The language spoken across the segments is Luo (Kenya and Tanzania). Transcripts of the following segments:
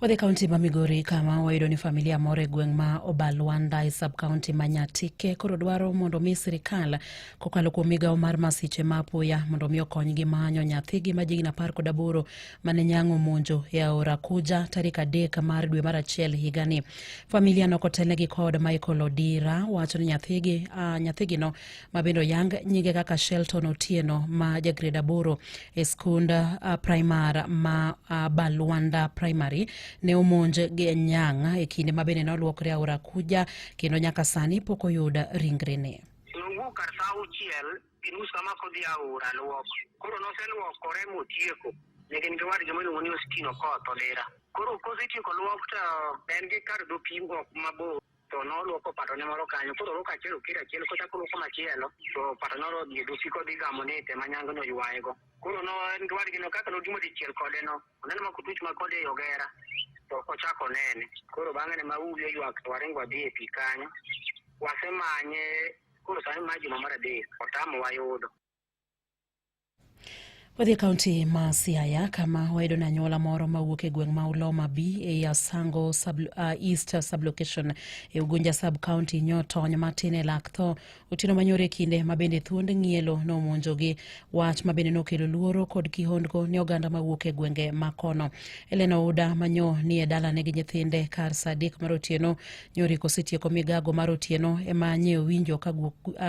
Wadhi kaunti ma Migori kama wayudo ni familia moro e gweng' ma Obalwanda e sub kaunti ma Nyatike koro dwaro mondo mi sirikal kokalo kuom migawo mar masiche ma apoya mondo mi okonygi manyo nyathigi ma jigni apar kod aboro mane nyang'o monjo e aora Kuja tarik adek mar dwe mar achiel higani. Familia no kotelnegi kod Michael Odira wacho ni nyathigi, uh, nyathigino ma bende oyang nyinge kaka Shelton Otieno ma jagrade aboro e skund uh, primar ma uh, Balwanda Primary ne omonj gi nyang e kinde ma bende ne olwokre aora Kuja kendo nyaka sani pok oyud ringrene. Nowuok kar sa auchiel gi nus kama kodhi aora lwok koro noselwokore motieko ne gin gi wadgi miluongo ni Ostino Koth Olera koro kosetieko lwok to en gi kar dho pimo mabor to noluoko patone moro kanyo koro oluoko achiel okir achiel kochako oluoko machielo to pato noro dhi dusi kodhi gamo ni te manyango no yuayego koro no en dwadgi no kaka nodimo dichiel kode no oneno ma kutuch ma kode e ogera to kochako nene koro bang'e ne maubi oywak to waringo wadhi e pi kanyo wasemanye koro sani ma juma mar adek otamo wayudo Wadhi e kaunti ma Siaya kama wayudo ni anyuola moro mawuok e gweng' ma Uloma B e i Asango sub, uh, East sublocation e Ugunja sub county nyo tony matin e lak tho otieno manyoro e kinde ma bende thuond ng'ielo nomonjogi wach ma bende nokelo luoro kod kihondko ne oganda mawuok e gwenge ma kono. Elena Ouda manyo ni e dalane gi nyithinde kar saa adek mar otieno Yore kosetieko migago mar otieno ema nye owinjo ka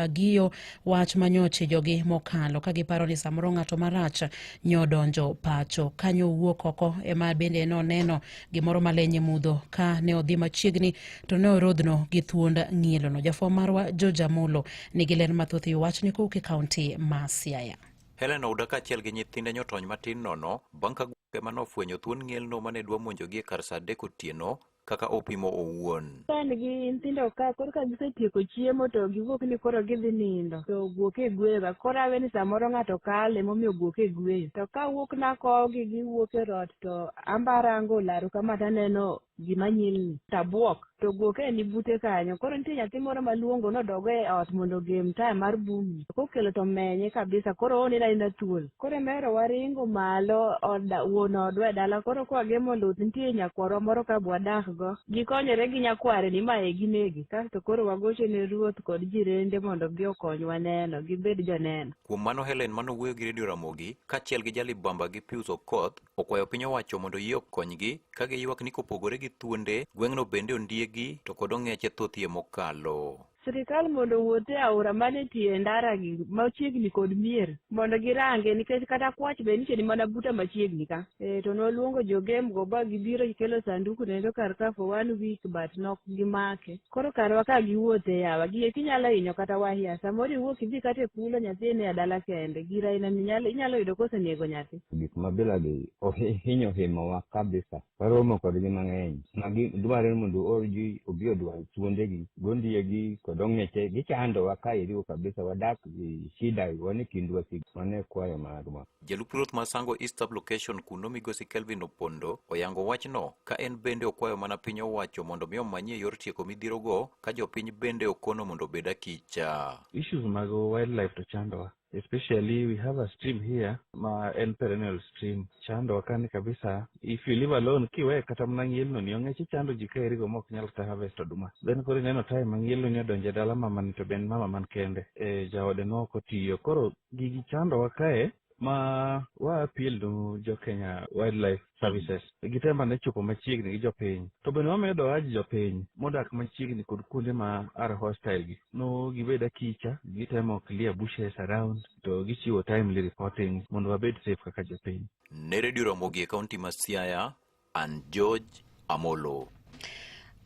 giyo wach manyoche jogi mokalo ka giparo ni samoro ng'ato marach nyodonjo pacho. Kanyo owuok oko ema bende noneno gimoro malenye mudho ka ne odhi machiegni to ne orodhno gi thuond ng'ielono. Jafwambo marwa George Amolo nigi ler mathoth e wachni kowuok e kaunti ma Siaya. Helen Ouda kaachiel gi nyithinde nyotony matin nono bang' ka gwenge ma nofwenyo thuon ng'elno ma ne dwa monjogi e kar sa adek otieno kaka opimo owuon. Kan gi nyithindo ka koro ka gisetieko chiemo to giwuok ni koro gidhi nindo to guok e gweyo ga koro awe ni samoro ng'ato kale momiyo guok e gweyo to ka wuok na kogi giwuok e rot to ambarango laru kama taneno gima nyilni tabuok to guok e ni bute kanyo koro nitie nyathi moro maluongo nodogo e ot mondo ogem taya mar bumi kokelo to menye kabisa koro onena ina thuol Koro emero waringo malo od wuon odwa e dala koro kwa gemo luth nitie nyakwarwa moro ka bwadakgo. Gikonyore gi nyakware ni mae ginege kasto koro wagocho ne ruoth kod jirende mondo gi okonywa neno gibed joneno. Kuom mano Helen mane owuoyo gi Radio Ramogi kachiel gi Jalibamba gi Pius Okoth okwayo piny owacho mondo yie okonygi ka giywak ni kopogore gi thuonde gweng'no bende ondiegi to kod ong'eche thothie mokalo. Sirkal mondo owuoth e aora manitie e ndara gi machiegni kod mier mondo girange nikech kata kwach be nitie ni mana buta machiegni ka. E, to noluongo jogem go ba gibiro gikelo sanduku nendo kar ka for one week but nok gimake. Koro karwa ka giwuotho e yawa gie kinyalo hinyo kata wahia samoro iwuok idhi kata e kulo nyathi ine adala kende gira ina minyalo inyalo yudo kosenego nyathi. Gik ma bila gi ohi, hinyo himowa kabisa. Waromo kodgi mang'eny. Magi dwarore ni mondo oorgi obi odwar thuondegi, gondiegi kod ong'eche. Gichandowa ka iriwo kabisa, wadak gi shida, wan e kind wasik, mano e kwayo magwa. Jalup Ruoth ma Sango East Sub-Location kuno Migosi Kelvin Opondo oyango wachno ka en bende okwayo mana piny owacho mondo mi omanyie yor tieko midhierogo ka jopiny bende okono mondo obed akicha. Issues mag wildlife to chandowa. especially we have a stream here ma en perennial stream chando wakani kabisa if you leave alone kiwe kata mana ngielno ni onge chi chando ji ka erigo mok nyal kata harvest oduma then koro ineno time ma ngielno ni odonje dala mama ni to ben mama man kende e jaode no ok otiyo koro gigi chando wakae ma wa appeal to jo Kenya wildlife services gi tem ane chopo machiegni gi jopiny to bende wamiyo doaji jopiny modak machiegni kod kuonde ma are hostile gi no gibed akicha gitemo clear bushes around to gichiwo timely reporting mondo wabed safe kaka jopiny ne redio ramogi e kaunti ma siaya an george amolo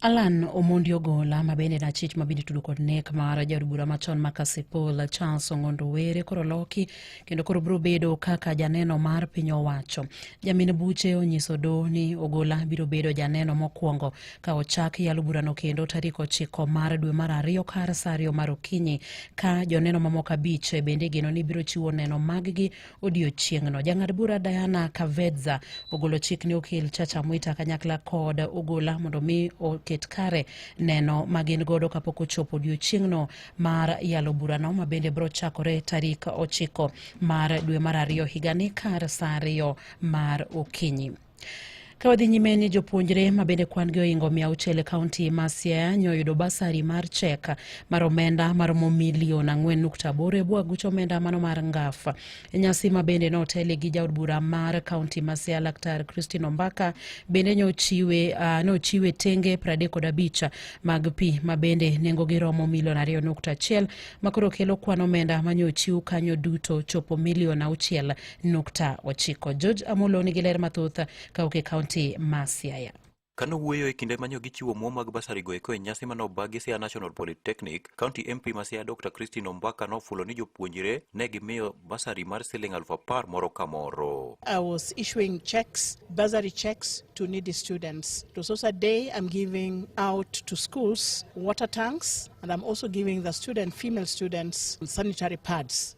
Alan Omondi Ogola ma bende en achich ma bende tudo kod nek mar jaod bura machon ma Kasipul Charles Ong'ondo Were koro loki kendo koro biro bedo kaka janeno mar piny owacho. Jamin buche onyiso do ni Ogola biro bedo janeno mokwongo ka ochak yalo burano kendo tarik ochiko mar dwe mar ariyo kar saa ariyo mar okinyi ka joneno mamoko abich bende igeno ni biro chiwo neno maggi odiochieng'no. Jang'ad bura Diana Kavedza ogolo chik ne okil Chacha Mwita kanyakla kod Ogola mondo mi oket kare neno ma gin godo kapok ochopo odiochieng'no mar yalo burano ma bende biro chakore tarik ochiko mar dwe mar ariyo higani kar saa ariyo mar okinyi. Ka wadhi nyime ni jopuonjre ma bende kwan gi ohingo mia auchiel e kaunti ma Siaya nyo oyudo basari mar chek mar omenda maromo milion ang'wen nukta aboro e bwo aguch omenda mano mar ngaf. E nyasi ma bende notele gi jaod bura mar kaunti ma Siaya Laktar Christine Ombaka bende nyochiwe uh, nochiwe tenge pradek kod abich mag pi ma bende nengogi romo milion ariyo nukta achiel makoro kelo kwan omenda manyochiw kanyo duto chopo milion auchiel nukta ochiko. George Amolo nigi ler mathoth kawuok e kaunti ma Siaya. Kane owuoyo e kinde manyo gichiwo omuom mag basari go eko e nyasi mane oba gi Siaya National Polytechnic, County MP ma Siaya Dr. Christine Ombaka nofulo ni jopuonjre ne gimiyo basari mar siling aluf apar moro ka moro. I was issuing checks, bursary checks to needy students. It was also a day I'm giving out to schools water tanks and I'm also giving the student, female students sanitary pads.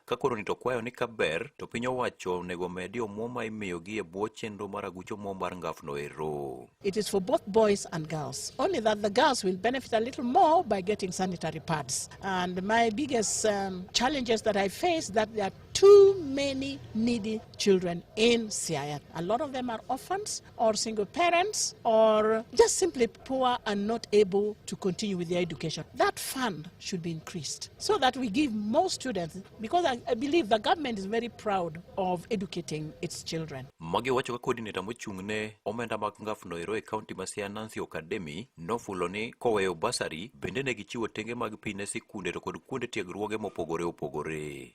Ka koro ni to kwayo ni kaber to piny owacho onego omedi omuom ma imiyogi e bwo chenro mar aguch omuom mar ngafno ero. It is for both boys and girls, only that the girls will benefit a little more by getting sanitary pads. And my biggest um, challenges that I face that there are too many needy children in Siaya. A lot of them are orphans. or single parents or just simply poor and not able to continue with their education. That fund should be increased so that we give more students because I, I believe the government is very proud of educating its children. Magi wacho ka coordinator mochung' ne omenda mag ngaf noero e county ma Siaya Nancy Okademi nofulo ni koweyo basari bende ne gichiwo tenge mag pi ne sikunde to kod kuonde tiegruoge mopogore opogore.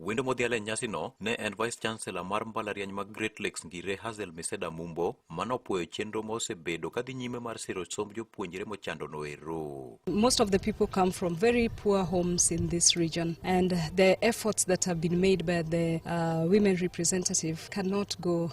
Wendo modhial e nyasino ne en Vice Chancellor mar mbalariany mag Great Lakes Ngire Hazel Miseda Mumbo mane opwoyo chenro ma osebedo kadhi nyime mar siro somb jopuonjre mochando noero. Most of the people come from very poor homes in this region and the efforts that have been made by the uh, women representative cannot go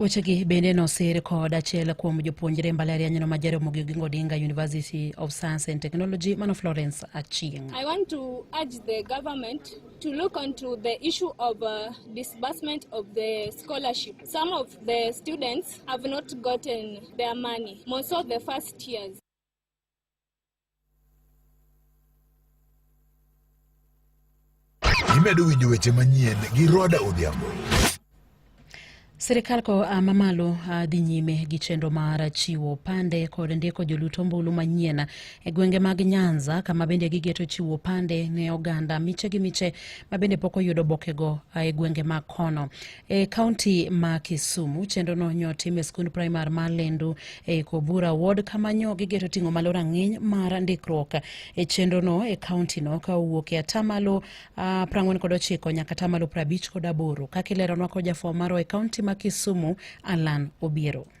Wechegi bende nosir kod achiel kuom jopuonjre mbalarianyno ma Jaramogi Oginga Odinga University of Science and Technology mano Florence Achieng. I want to urge the government to look onto the issue of uh, disbursement of the scholarship. Some of the students have not gotten their money, more so the first years. Imedo winjo weche manyien gi Roda Odhiambo. Sirikal ko a mamalo a dhi nyime gi chenro mar chiwo pande kod ndiko joluto ombulu manyien e gwenge mag Nyanza kama bende gigeto chiwo pande ne oganda miche gi miche ma bende pok oyudo obokego a e gwenge mag kono. E kaunti ma Kisumu chenro no nyo tim e skund primar ma Lendu e Kobura ward kama nyo gigeto ting'o malo rang'iny mar ndikruok e chenro no e kaunti no ka owuok e atamalo uh, prang'wen kod ochiko nyaka atamalo prabich kod aboro kaka ileronwa kod jafwamaro e kaunti ma Kisumu Alan Obiero.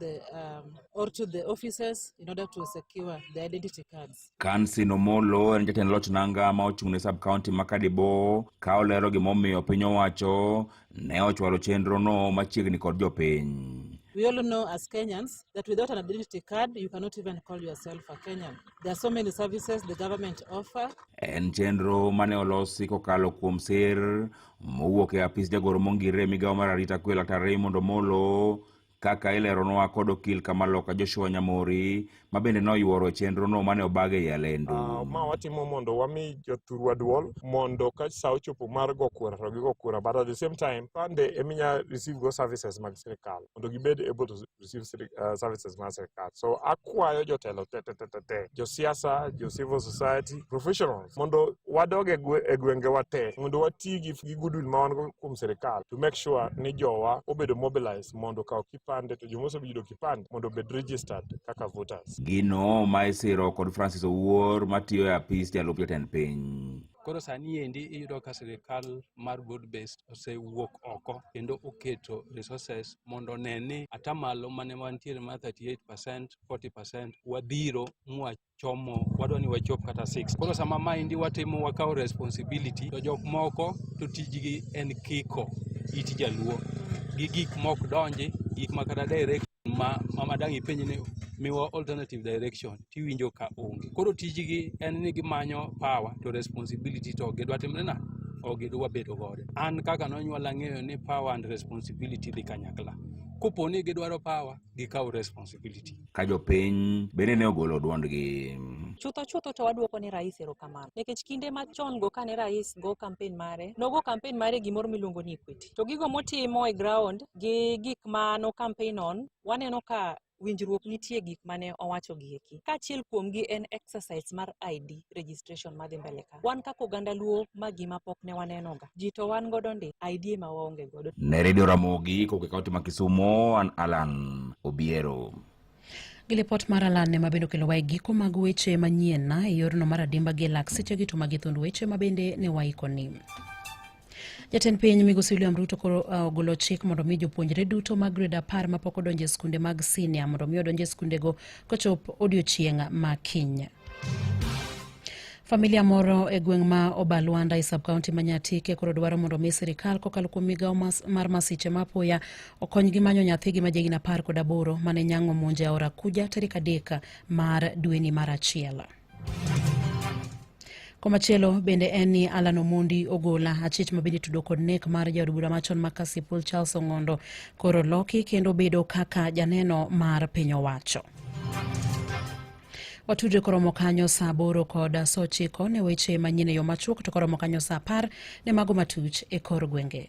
the, um, or to the offices in order to secure the identity cards. Kansi Nomolo en jatend loch nanga ma ochung' ne sub county ma Kadibo ka olero gimomiyo piny owacho ne ochwalo chenro no machiegni kod jopiny. We all know as Kenyans that without an identity card, you cannot even call yourself a Kenyan. There are so many services the government offer. En chenro mane olosi kokalo kuom sir mowuok e apis jagoro mongirre migawo mar arita kwe Laktar Raymond Omolo kaka ileronwa kod okil Kamaloka Joshua Nyamori ma bende noyuoro e chenrono mane obag ei Alendu. Uh, ma watimo mondo wami jothurwa duol mondo ka sa ochopo mar go kura to gigo kura but at the same time pande eminya receive go services mag sirikal mondo gibed able to receive uh, services mag sirikal so akwayo jotelo te te te te josiasa jo civil society professional mondo wadog e gwengewa te mondo wati gi gi goodwill ma wan go kuom sirikal to make sure ni jowa obedo mobilized mondo okaw kipande to joma oseyudo kipande mondo obed registered kaka voters. Gino ma isiro kod Francis Owuor matiyo e apis jalup jatend piny. Koro sani endi iyudo ka sirikal mar broad based osewuok oko kendo oketo resources mondo one ni atamalo mane wantiere mar 38%, 40% wadhiro mwach chomo wadwa ni wachop kata 6 koro sama maendi watimo wakawo responsibility to jok moko to tijgi en kiko it jaluo gi gik mok donji gik ma kata direct ma mama dang ipenj ni miwa alternative direction tiwinjo ka onge koro tijgi en ni gimanyo power to responsibility to gidwa timre na ok gidwa wabedo godo an kaka nonyuola ng'eyo ni power and responsibility dhi kanyakla kopo ni gidwaro power gikaw responsibility ka jopiny bende ne ogolo dwondgi. Chutho chutho to wadwoko ne rais erokamano nikech kinde machon go kane rais go kampen mare nogo kampen mare gimoro miluongo ni equity to gigo motimo e ground gi gik ma no kampen on waneno ka winjruok nitie gik mane owacho gi eki kaachiel kuomgi en exercise mar ID registration madhi mbele ka. Afrika. Wan kaka oganda Luo ma gima pok ne wanenoga. Ji to wan godo ndi, idea ma waonge godo. Ne redio Ramogi koke kaunti ma Kisumo, an Alan Obiero. Gi lipot mar Alan ne mabende okelowa e giko mag weche manyien na e yorno mar adimba gi e lak sechegi to magi thund weche mabende ne waikoni. Jatend piny Migosi William Ruto koro uh, ogolo chik mondo mi jopuonjre duto mag grade apar mapok odonjo e skunde mag senior mondo mi odonj e skundego kochop odiochieng' ma kiny. Familia moro e gweng' ma Obalwanda e sub-county ma Nyatike koro dwaro mondo omi sirikal kokalo kuom migawo mas, mar masiche ma apoya okonygi manyo nyathigi ma jahigni apar kod aboro mane nyang'o monjo e aora Kuja tarik adek mar dweni mar achiel. Komachielo bende en ni Alan Omondi Ogola achich ma bende tudo kod nek mar jaod bura machon ma Kasipul Charles Ong'ondo koro loki kendo bedo kaka janeno mar piny owacho. Watudre koromo kanyo saa aboro kod saa ochiko ne weche manyien e yo machuok to koromo kanyo saa apar ne mago matuch e kor gwenge.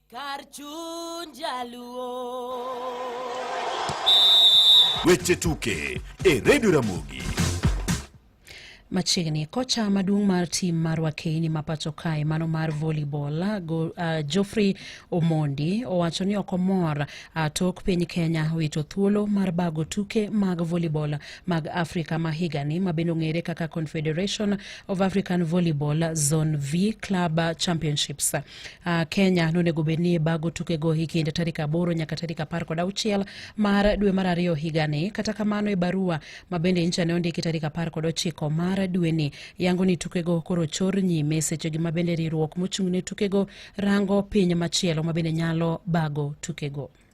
Kar chuny Weche tuke e Redio Ramogi. Machiegni kocha maduong' mar tim mar Wakeini ma pacho kae mano mar volleyball uh, Geoffrey Omondi owacho ni ok omor uh, tok piny Kenya wito thuolo mar bago tuke mag volleyball mag Afrika ma higani ma bende ong'ere kaka Confederation of African Volleyball Zone V Club Championships. Uh, Kenya nonego bed ni bago tukego e kind tarik aboro nyaka tarik apar kod auchiel mar dwe mar ariyo higani. Kata kamano e barua ma bende incha ne ondiki tarik apar kod ochiko mar dweni yango ni tukego koro chor nyime sechegi ma bende riwruok mochung' ne tukego rango piny machielo ma bende nyalo bago tukego.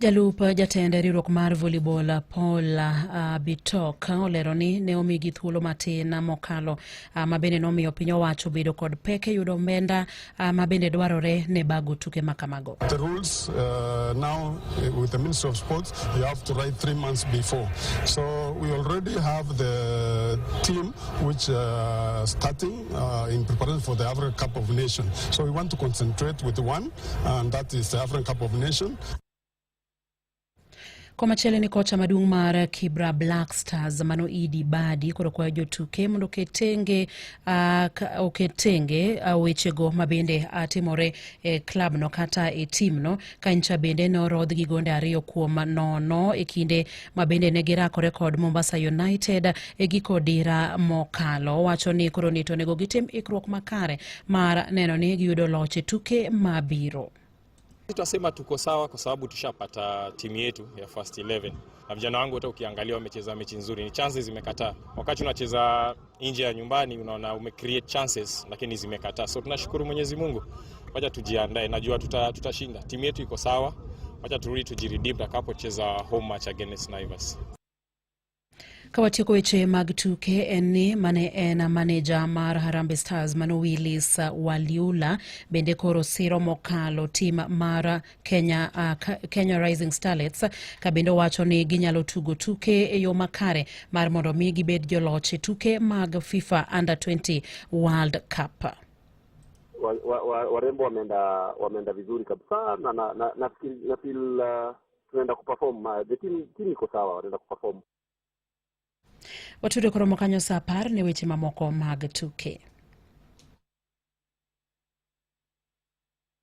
Jalup jatend riwruok mar volleyball Paul uh, Bitok olero ni ne omigi thuolo matin mokalo uh, ma bende nomiyo piny owacho bedo kod pek e yudo omenda uh, ma bende dwarore ne bago tuke ma kamago. The rules uh, now uh, with the Ministry of Sports you have to write three months before. So we already have the team which uh, starting uh, in preparation for the Africa Cup of Nations. So we want to concentrate with one and that is the African Cup of Nations. Komachielo ni kocha maduong' mar Kibra Black Stars mano Idi Badi koro kwayo jotuke mondo oketenge uh, oketenge uh, wechego mabende uh, timore e klab no kata e tim no kancha bende norodh gi gonde ariyo kuom nono e kinde ma bende ne girakore kod Mombasa United e giko dira mokalo. Owacho ni koro nito onego gitim ikruok makare mar neno ni giyudo loch e tuke mabiro. Tutasema tuko sawa kwa sababu tushapata timu yetu ya first 11 na vijana wangu wote ukiangalia wamecheza mechi nzuri, ni chances zimekataa wakati unacheza nje ya nyumbani, unaona ume create chances lakini zimekataa. So tunashukuru Mwenyezi Mungu, wacha tujiandae, najua tutashinda, tuta timu yetu iko sawa, wacha turudi tujiredeem tutakapocheza home match against Naivas. Kawatieko weche mag tuke en ni mane en maneja mar Harambee Stars Mano Willis Waliula bende koro siro mokalo tim mar Kenya, uh, Kenya Rising Starlets ka bende owacho ni ginyalo tugo tuke e yo makare mar mondo mi gibed joloch e tuke mag FIFA Under 20 World Cup. Warembo wa, wa, wa wameenda wameenda vizuri kabisa na na, na, na, feel, na feel, uh, tunaenda kuperform uh, the team, team iko sawa wanaenda kuperform. Watudo koromo kanyo saa apar ne weche mamoko mag tuke.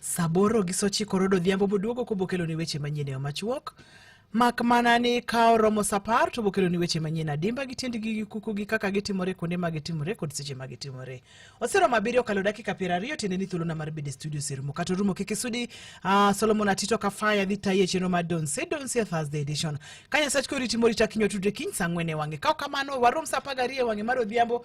Saboro gi sochiko rodo odhiambo boduogo kobokelo ni weche manyien e machuok mak mana ni ka oromo sapar to bokelo ni weche manyien adimba gi tiendgi gi kuku gi kaka gitimore kuonde ma gitimore kod seche ma gitimore oseromo abiriyo kalo dakika piero ariyo tiende ni thuolona mar bede studio serumo kata orumo kik isudi uh, solomon atito kafaya dhi tayi e chenro mar donse donse e thursday edition ka nyasach koriti morita kinyo tudre kiny sa ang'wen e wang'e ka ok kamano warom sa apar gariyo e wang'e mar odhiambo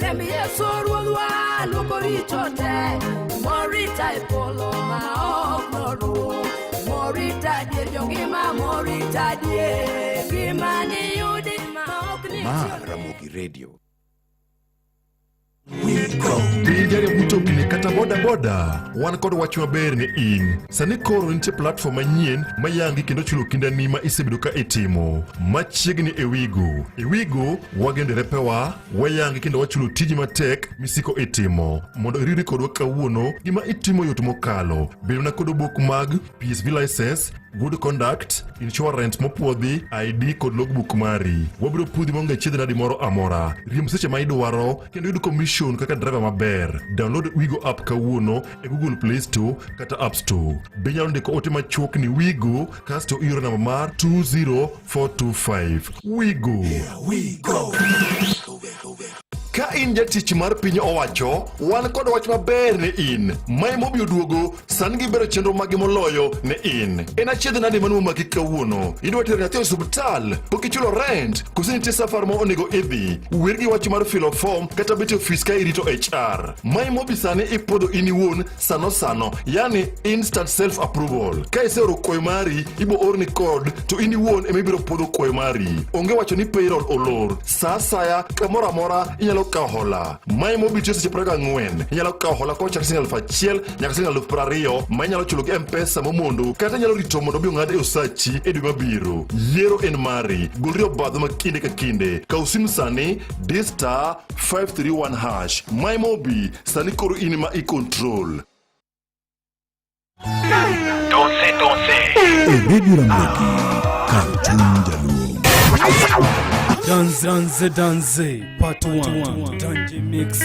Remi Yesu ruodhwa luoko richo te Morita e polo ma ok noruo Morita dier jongima morita dier Gima niyudi ma ok ni Ma Ramogi Radio. Pinjari mtokni kata bodaboda wan kod wach maber ni in sani koro nitie platform manyien mayangi kendo chulo kindani ma isebedo ka itimo machiegni e wigo e wigo wagendere pewa Wayangi kendo wachulo tiji matek misiko itimo. Mondo iriwri kodwa kawuono, gima itimo yot mokalo. Bedona kod obok mag PSV license, good conduct, insurance mopwodhi, ID kod logbook mari. Wabiro pudhi maonge chiedh nadi moro amora. Riemb seche ma idwaro kendo yud commission kaka driver maber. Download Wigo app kawuono e Google Play Store kata App Store. Be inyalo ndiko ote machuok ni Wigo kasto ioro namba mar 20425 wigo ka in jatich mar piny owacho wan kod wach maber ne in mae mobiro duogo san gibero chenro magi moloyo ne in en achiedh nade mane momaki kawuono idwa tero nyathi e osiptal pok ichulo rent kose nitie safar ma onego idhi wer gi wach mar filo fom kata bet e ofis ka irito hr mae mobi sani ipodho in iwuon sano sano yani instant self approval ka iseoro kwayo mari ibo orni code to in iwuon ema ibiro pwodho kwayo mari onge wacho ni payroll olor sa asaya kamoro amora inyalo kawo hola mae mobitiyo seche praga ang'wen inyalo kawo hola kochakre siling aluf achiel nyaka siling aluf prariyo ma inyalo chulo gi mpesa momondo kata inyalo rito mondo obi ong'ad e osachi e dwe mabiro yiero en mari golri obadho ma kinde ka kinde kaw sim sani distar 531 hash my mobi sani koro in ma i control Donse, donse. E redio Ramogi, kar chuny jaluo. Danze, danze, danze, part 1. Danji mix.